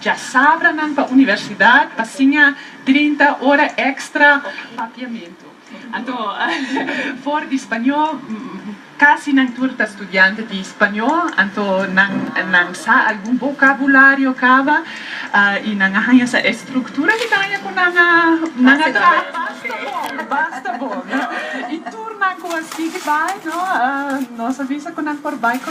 Djasabranan pa universidad pa siña trinta ora extra papiamentu. Anto, for di spañó, casi nan tur ta studiante di spañó, anto nan nan sa algun vocabulario caba y nan a haña sa estructura di caña cu nan a nan a traha. Basta bon, basta bon. Y tur nan cu a sigui bay, no, nos a bisa cu nan por bay cu.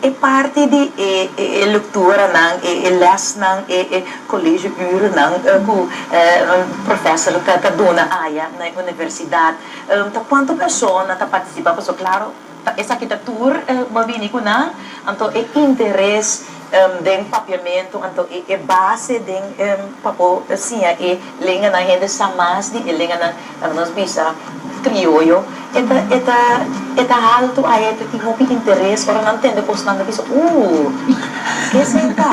E parti di e lektoranan, e lesnan, e kolegio-urennan ku profèser ta duna aya na e universidat, ta kuantu persona ta partisipa? Pasobra, klaro, esaki ta tur bo bini ku nan, anto e interes. Den papiamentu, anto e e base den pa por siña e lenganan hende sa mas di e lenganan nan nos bisa krioyo, e ta e ta e ta haltu ai e ta tin hopi interes ora nan tende kosnan ta bisa ooh ke esei ta.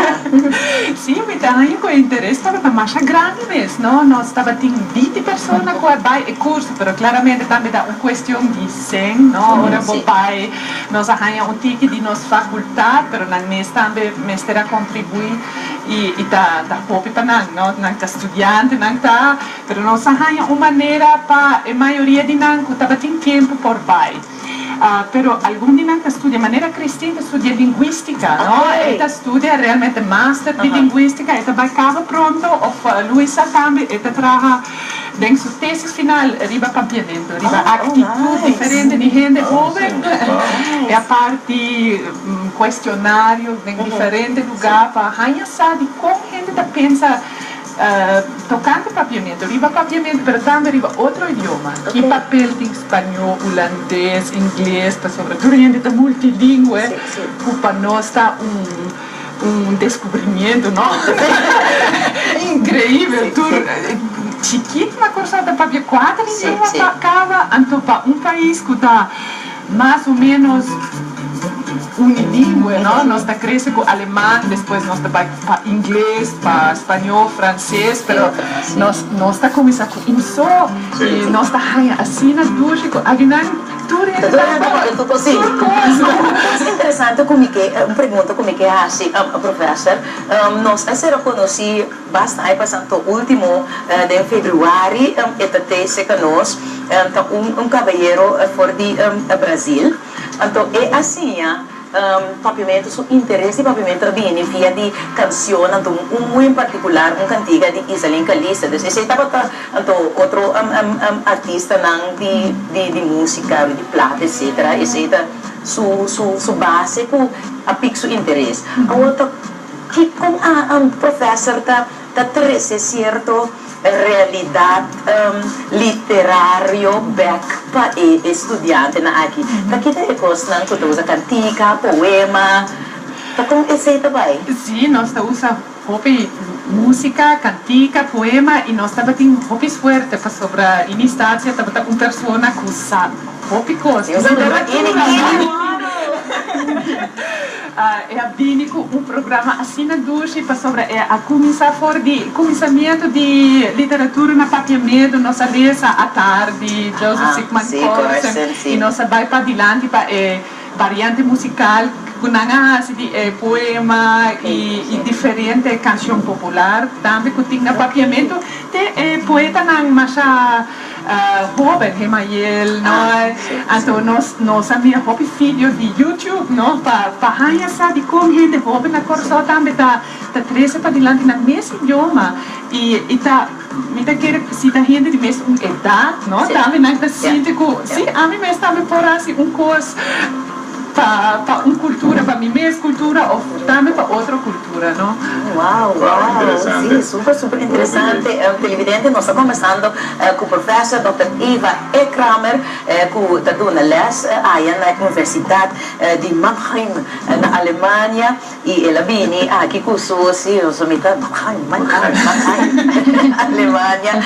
Si, mi ta haña ku e interes tabata masha grandi mes, no nos tabatin binti persona ku a bai e kurso, pero klaramente tambe ta un kuestion di. Sen, no? Ora bo bai, nos a haña un tiki di nos facultad, pero nan mes tambe mester a contribui y y ta ta hopi pa nan, no? Nan ta studiante, nan ta, pero nos a haña un manera pa e mayoria di nan cu tabatin tiempo por bai. Ah, pero algun di nan ta studia, manera Christine ta studia linguistica, no? E ta studia realmente master di linguistica, e ta bai caba pronto of Luisa tambe e ta traha. Den su tesis final riba pampiamentu riba aktitut diferente di hende hoben, e a parti kuestionario den diferente lugá pa haña sa di kon hende ta pensa tokante pampiamentu, riba pampiamentu pero tambe riba otro idioma. Ki papel tin spañó, ulandes, ingles, pasobra tur hende ta multilingwe, ku pa nos ta un. Un descubrimiento no increibel tur chikit na Curaçao ta papia cuater idioma pa caba anto pa un pais cu ta mas o menos unilingüe no nos ta crece cu aleman despues nos ta bay pa ingles pa spañol frances pero nos nos ta cuminsa cu un so y nos ta haya asina durshi cu aginan. interesante cu mi ke, un pregunta cu mi ke haci Professor, nos a ser reconoci basta a pasa anto ultimo den Februari e ta trece ca nos ta un caballero for di Brasil anto e a siña. Papiamento su interes di papiamento a bini via di cancionnan to un muy en particular un cantiga di Isaline Calista dus esey tabata anto otro artistanan di musica di plata etcetera esey ta su base cu a pic su interes awo ta ki con a professor ta Ta trece cierto realidad literario bek pa e estudiantenan aki. Ta kita e cosnan cu ta usa cantica, poema? Ta con esey ta bay? Sí, nos ta usa hopi música, cantica, poema y nos tabatin hopi suerte pasobra Ini Stacia tabata un persona cu sa hopi cos di literatura. E a bini ku un programa asina dushi pasobra e a kuminsá for di kuminsamientu di literatura na Papiamedu. Nos a lesa Atar di Joseph Sigmund Corson i nos a bai padilanti pa e variante musikal ku nan a hasi di e poema i diferente kanshon popular tambe ku tin na Papiamentu te e poetanan masha Hoben Gemael no asta nos nos a mira hopi video di YouTube no pa pa haña sa di kon hende hoben na Kòrsou tambe ta ta trese padilanti na mes idioma i i ta mi ta kere si ta hende di mes un edat no tambe nan ta sinti ku si ami mes tambe por hasi un kos. pa un cultura pa mi mes cultura of tambe pa otro cultura no wow si super super interesante televidente nos ta conversando cu professor Doctor Eva E. Kramer cu ta duna les aya na Universidad di Mannheim na Alemania. Y el a bini aki cu su siuso, mi ta bacan, bacan, bacan. Alemania,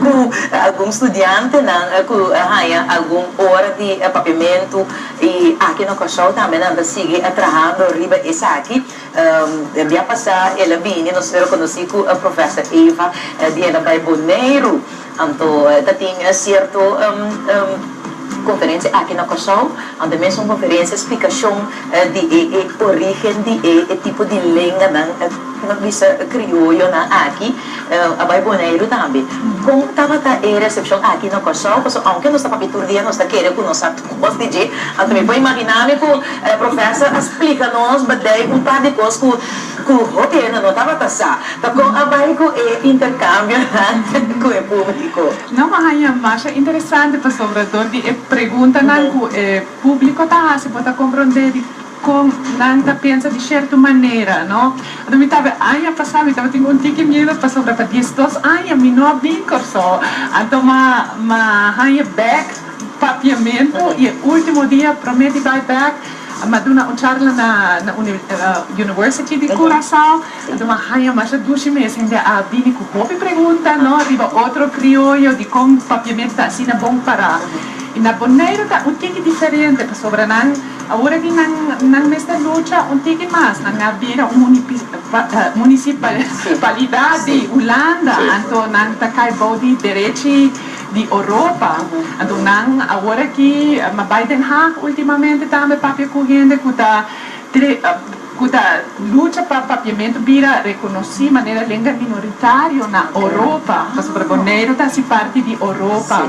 cu algun studiantenan cu a haya algun ora di papiamentu, y aki na Cor-sou tambe nan ta sigui a trahando riba esaki. Biapasa el a bini, nos lo conoci cu Professor Eva, di el a bay Boneiru. Anto ta tin cierto conferencia aki na Cor-sou, anto mes un conferencia explicacion di e origen di e tipo di lenganan cu nos bisa crioyonan aki, a bay Boneiru tambe. Con tabata e recepcion aki na Cor-sou? Pasobra aunke nos ta papia tur dia nos ta kere cu nos sa cos di dje, anto mi por imagina mi cu Professor a splica nos badey un par di cos cu Ku Gobierno no tabata sa pa kon a bai ku e interkambionan ku e publiko. Nan por haña masha interesante pasobra dor di e preguntanan ku e publiko ta hasi bo ta komprondé di kon nan ta pensa di sherto manera, no? Anto mi tawe aña pasá mi tabatin un tiki miedu pasobra pa diesdos aña mi no a bin Kòrsou. Anto m'a m'a haña bèk papiamentu i e último dia promé di bai bèk. Em a duna un charla na University di Curacao. Enton a haña Marcia Dushi mes hende a bini cu hopi pregunta, no? Riba otro crioyo di con Papiamento ta asina bon para. Y na Boneiru ta un tiki diferente pasobra nan aura di nan nan mester lucha un tiki mas. Nan a bira un municipalidad di Hulanda, anto nan ta cay bao di derechi. di Oropa. Anto nan awor aki a bai Den Haag ultimamente tambe papia ku hende ku ta ku ta lucha pa papiamentu bira rekonosí manera lenga minoritario na Oropa, pasobra por Boneiro ta hasi parti di Oropa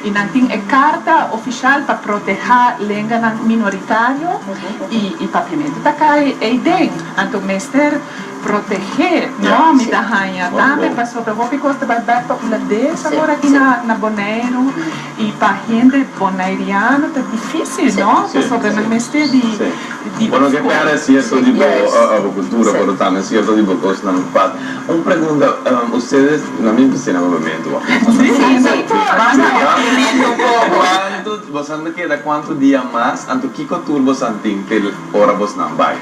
i nan tin e karta ofisial pa protehá lenganan minoritario i papiamentu ta kai einden. Anto mester. Protegé, no? Mi ta haña tambe pasobra hopi kos ta bai bèk pa un ladesa awor aki na Boneiru. I pa hende bonairiano ta difísil, no? Pasobra nan mester di ofko. Bo no ke pèrdè sierto di bo abakultura, pero tambe sierto di bo kosnan pat. Un pregunta, ustedes nan mim ta sina kampamentu aki? Sí, sí, nan por, nan por. Kuantu, boso nan ta keda kuantu dia mas? Anto kiko tur boso nan tin te ora bosnan bai?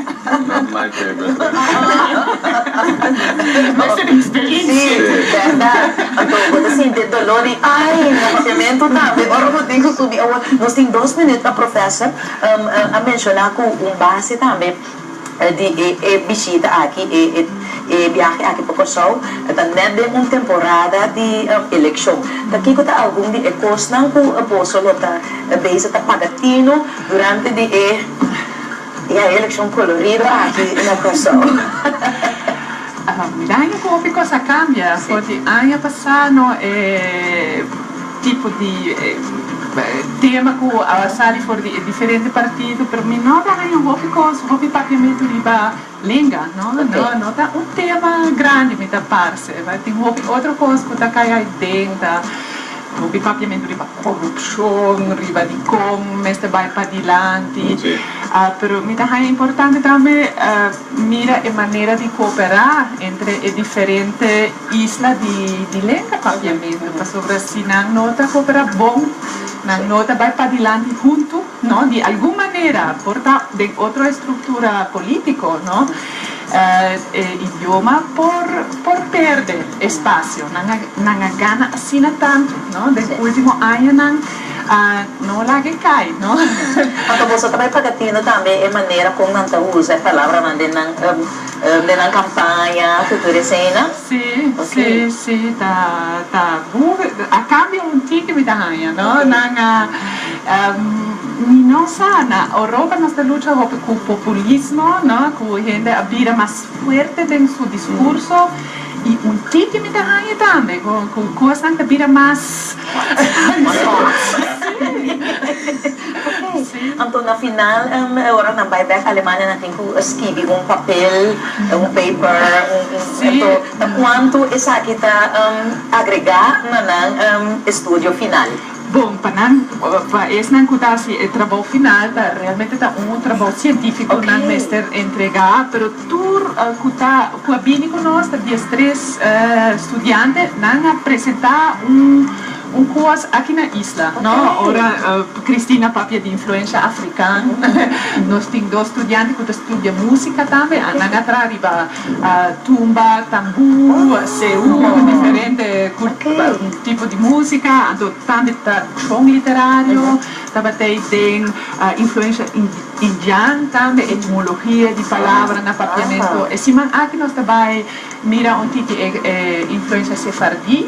Not my favorite thing. Mas e experiencia. Sí, verdad. Anto bo ta sinti e dolor di ay nacimentu tambe. Ora bo tin cu subi awor. Nos tin dos minuut pa Professor a menciona cu un base tambe di e bishita aki, e biahe aki pa Corsou ta net den un temporada di eleccion. Ta kico ta algun di e cosnan cu boso lo ta bezig ta paga tino durante di e. E hay eleccion colorido aki na Kòrsou. Mira un hopi kos a kambia for di aña pasá no e tipo di tema ku a sali for di e diferente partido pero mi no ta hay un hopi kos hopi papiamentu riba lenga no no ta un tema grandi mi ta parse tin hopi otro kos ku ta kai hay den ta. Hopi papiamentu riba korupshon, riba di kon mester bai pa dilanti, pero mi ta haña importante tambe mira e manera di kooperá entre e diferente isla di lenga papiamentu, pasobra si nan no ta kooperá bon, nan no ta bai padilanti huntu, di algun manera, por ta den otro estruktura polítiko. E idioma por perde espacio. Nan a gana asina tantu den e ultimo añanan. No laga e cay. Pasobra boso ta bay pagatindo tambe e manera con nan ta uza e palabranan den nan campaña cu tur esena. Si, si, si ta. A cambia un tin que mi ta haya. Nan a. Ni nos sa, na Oropa nos ta lucha hopi ku populismo, no, ku hende a bira mas fuerte den su diskurso i un tiki mi ta haña tambe ku kosnan ta bira mas si. Anto na final e ora nan bai bek Alemania nan tin ku skibi un papel, un paper, anto ta kuantu esaki ta agregá na nan estudio final? Bon pa nan, pa esnan cu ta haci e trabou final ta realmente ta un trabou cientifico nan mester entrega, pero tur cu ta cu a bini cu nos ta diestres studiante, nan a presenta un un cos aki na isla, no, ora Christine a papia di influencia african nos tin dos studiante cu ta studia musica tambe, nan a traha riba. a tumba tambú, seú o diferente tipo di músika. Anto tambe ta tradishon literario. Tabatey den influensha indian tambe, etimologia di palabra na papiamentu. E siman aki nos ta bai mira un tiki e influensha sefardí.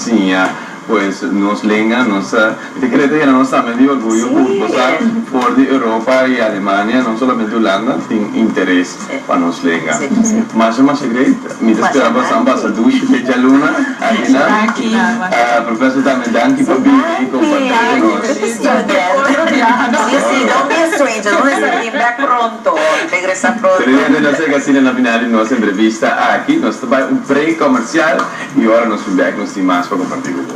Siña pues nos lenga nos ta e kere ta yena nos tambe di orguyo ku bo sa for di Europa i Alemania no solamente Hulanda tin interes pa nos lenga masha masha great mi ta spera bo san basa dushi fecha luna akina Professor tambe danki pa bini i komparti ku nos. Teresa Tere Tere nos a llega asina na final di nos entrevista aki nos ta bai un break komersial. Y ora nos su bek nos tin mas pa comparti cu bo.